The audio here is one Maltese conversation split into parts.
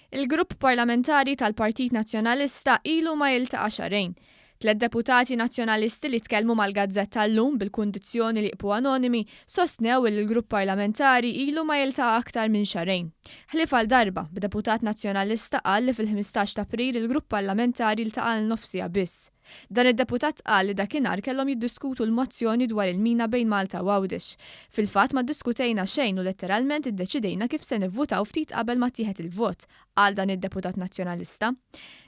Il-Grupp Parlamentari tal-Partit Nazzjonalista ilu ma jiltaqa' xahrejn. Tliet deputati Nazzjonalisti li tkellmu mal-gazzetta llum bil-kundizzjoni li jibqghu anonimi sostnew illi l-Grupp Parlamentari ilu ma jiltaqa' aktar minn xahrejn. Ħlief għal darba, b'deputat Nazzjonalista qal li fil-ħmistax t'April il-Grupp Parlamentari ltaqa' għal nofsiha biss. Dan id-deputat qal li dakinhar kellhom jiddiskutu l-mozzjoni dwar il-mina bejn Malta u Għawdex. Fil-fatt ma ddiskutejna xejn u letteralment iddeċidejna kif se nivvutaw ftit qabel ma ttieħed il-vot, qal dan id-deputat Nazzjonalista.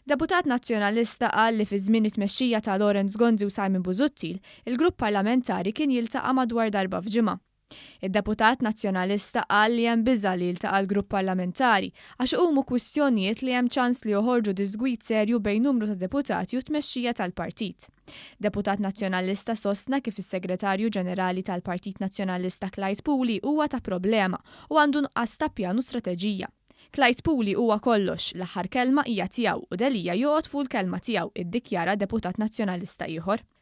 Deputat Nazzjonalista qal li fi żmien it-tmexxija ta' Lawrence Gonzi u Simon Busuttil, il-grupp parlamentari kien jiltaqa' madwar darba f'ġimgħa. Id-deputat Nazzjonalista qal li hemm biża' li jiltaqa' l-grupp parlamentari għax iqumu kwistjonijiet li hemm ċans li joħorġu diżgwid serju bejn numru ta' deputati u t-tmexxija tal-partit. Deputat Nazzjonalista sostna kif is-Segretarju Ġenerali tal-Partit Nazzjonalista Clyde Puli huwa ta' problema u għandu nuqqas ta' pjan u strateġija. Clyde Puli huwa kollox, l-aħħar kelma hija tiegħu u Delia joqgħod fuq il-kelma tiegħu, iddikjara deputat Nazzjonalista ieħor.